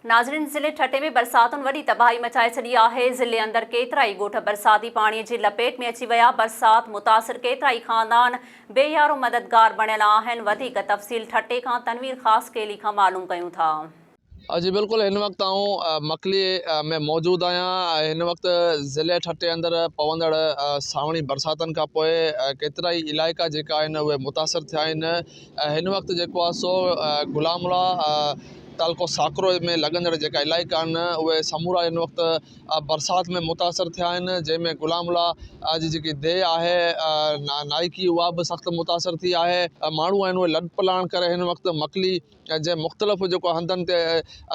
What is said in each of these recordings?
ناظرين ضلعي ٺٽي ۾ برساتن وڏي تباهي مچائي ڇڏي آهي، ضلعي اندر ڪيترائي ڳوٺ برساتي پاڻي جي لپيٽ ۾ اچي ويا، برسات متاثر ڪيترائي خاندان بي يارو مددگار بڻيل آهن، وڌيڪ تفصيل ٺٽي کان تنوير خاصخيلي کان معلوم ڪيون ٿا. جي بلڪل هن وقت آئون مڪلي ۾ موجود آهيان هن وقت ضلعي ٺٽي اندر پوندڙ سانوڻي برساتن کانپوء ڪيترائي علائقا جيڪا آهن اهي متاثر ٿيا آهن هن وقت جيڪو آهي سو غلام الله تعلقو ساڪرو ۾ لڳندڙ جيڪا علائقا آهن اهي سمورا هن وقت برسات ۾ متاثر ٿيا آهن جنهن ۾ غلام الله جي جيڪي ديهه آهي نائڪي اها به سخت متاثر ٿي آهي ماڻهو آهن اهي لڏ پلاڻ ڪري هن وقت مڪلي جنهن مختلف جيڪو هنڌن تي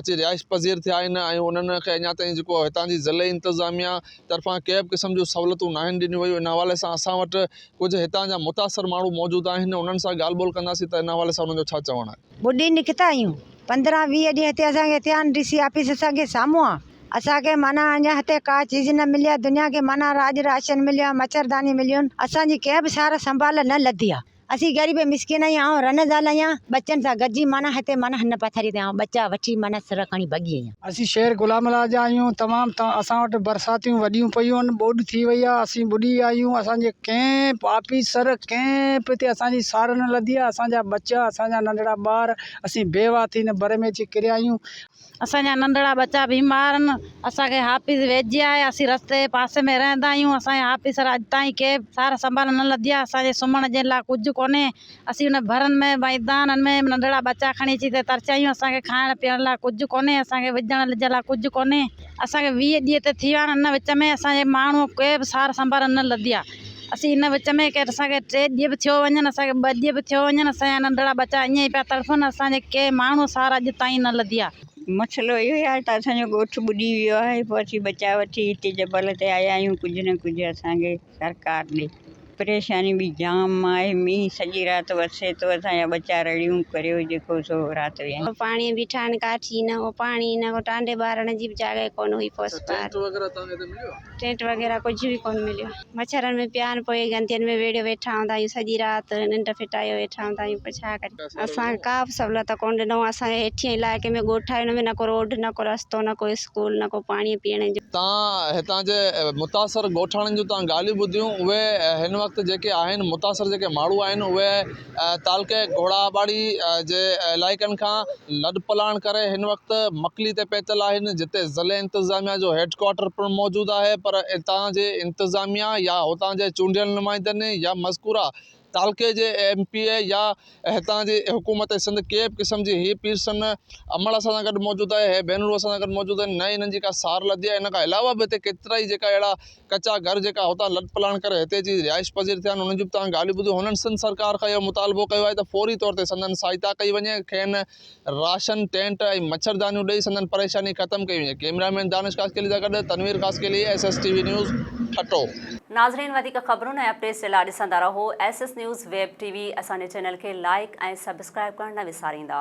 اچي رهائش پذير ٿيا آهن ۽ انهن کي اڃا تائين جيڪو هتان جي ضلعي انتظاميا طرفان ڪنهن به قسم جون سهولتون ناهن ڏنيون ويون ان حوالي سان اسان وٽ ڪجهه هتان جا متاثر ماڻهو موجود آهن انهن سان ڳالهه ٻولهه ڪنداسين ته ان حوالي سان انهن جو ڇا چوڻ آهي. ٻڏي نڪتا آهيون پندرهن ويهه ڏينهن هتي اسان کي اٿيان ڊي سي آفيس اسان کي سامهون آ اسان کي معنيٰ اڃان هتي ڪا چيز نه ملي آ دنيا کي معنيٰ راڄ راشن مليو آ مڇرداني مليون اسان جي ڪنهن به سار سنڀال نه لڌي آ اسين غريب مسڪين آهيون آئون رنه زال آهيان ٻچن سان گڏجي معنيٰ هتي معنيٰ هن پٿري تي آئون ٻچا وٺي معنيٰ سر کڻي ڀڳي آهيان. اسين شهر غلام الله جا آهيون تمام اسان وٽ برساتيون وڏيون پيون آهن ٻوڏ ٿي وئي آهي اسين ٻڏي ويا آهيون اسانجي ڪنهن به آفيسر ڪنهن به هتي اسانجي سار نه لڌي آهي اسانجا ٻچا اسانجا ننڍڙا ٻار اسين بيواهه ٿي هن بر ۾ اچي ڪريا آهيون اسانجا ننڍڙا ٻچا بيمار آهن اسانکي آفيس ويجهي آهي اسين رستي جي پاسي ۾ رهندا آهيون اسانجا آفيسر اڄ تائين ڪنهن به سار سنڀال نه لڌي آهي اسانجي سمهڻ جي لاء ڪجهه ڪونهي اسين ان ڀرن ۾ ميدانن ۾ ننڍڙا ٻچا کڻي اچي تي ترچايون اسان کي کائڻ پيئڻ لاء ڪجهه ڪونهي اسان کي وجهڻ لجهڻ لاء ڪجهه ڪونهي اسان کي ويهه ڏينهن ته ٿي ويا آهن ان وچ ۾ اسان جي ماڻهو ڪي به سار سنڀار نه لڌي آهي اسين ان وچ ۾ ڪير اسان کي ٽي ڏينهن به ٿيو وڃن اسان کي ٻه ڏينهن به ٿيو وڃن اسان جا ننڍڙا ٻچا ائين ئي پيا تڙڦن اسان جي ڪي ماڻهو سار اڄ تائين نه لڌي آهي مسئلو اهو ئي آهي ته اسان جو ڳوٺ ٻڏي ويو آهي پوء اسين ٻچا وٺي هتي جبل تي آيا آهيون ڪجهه نه ڪجهه اسان کي سرڪار ڏي. پريشاني به جام آهي مينهن سڄي رات وسي ٿو اسان جا ٻچا رڙيون ڪريو جيڪو سو رات ويهين. پاڻي جي ٺاهڻ ڪاٺي نه هو پاڻي نه هو ٽانڊي ٻارڻ جي به جاڳهه ڪونه هئي پوس پار ٽينٽ وغيره ڪجهه به ڪونه مليو مڇرن ۾ پيا آهن پوء گندين ۾ ويڙهيو ويٺا هوندا آهيون سڄي رات ننڊ ڦٽايو ويٺا هوندا آهيون پوء ڇا ڪريون. اسان کي ڪابه سھولت ڪونه ڏنو اسان کي ھيٺين علائقي ۾ ڳوٺ آھي ان ۾ نه ڪو روڊ نه ڪو رستو نه ڪو اسڪول نه ڪو پاڻي پيئڻ جو. تان ھتان جي متاثر ڳوٺاڻن جون تان ڳالھيون ٻڌيون اھي ھن وقت جيڪي آھن متاثر جيڪي ماڻھو آھن اھي تعلقي گھوڙا آباڙي جي علائقن کان لڏپلاڻ ڪري ھن وقت مڪلي تي پھتل آھن جتي ضلعي انتظاميا جو ھيڊ ڪوارٽر پڻ موجود آھي پر اتان جي انتظاميا يا اتان جي چونڊيل نمائندن يا مذڪوره تعلقي جي ايم پي اي يا هتان جي حڪومت سنڌ ڪنهن به قسم جي هي پيرسن نه عمل اسان سان گڏ موجود آهي هي بينرون اسان سان گڏ موجود آهن نه ئي انهن جي ڪا سار لڌي آهي ان کان علاوه به هتي ڪيترائي جيڪا اهڙا ڪچا گهر جيڪا هتان لڏ پلاڻ ڪري هتي اچي رهائش پذير ٿيا آهن انهن جون به توهان ڳالهيون ٻڌيون هنن سنڌ سرڪار کان اهو مطالبو ڪيو آهي ته فوري طور تي سندن سهائتا ڪئي وڃي کين راشن، ٽينٽ ۽ مڇردانيون ڏئي سندن پريشاني ختم ڪئي وڃي. ڪيمرا مين دانش خاصخيلي سان گڏ Tanveer Khaskheli, S S T V news, Thatta. ناظرين وڌيڪ خبرون ۽ اپڊيٽس جي لاء ڏسندا رهو S S news web T V اسان جي چينل کي لائيڪ ۽ سبسڪرائيب ڪرڻ نه وساريندا.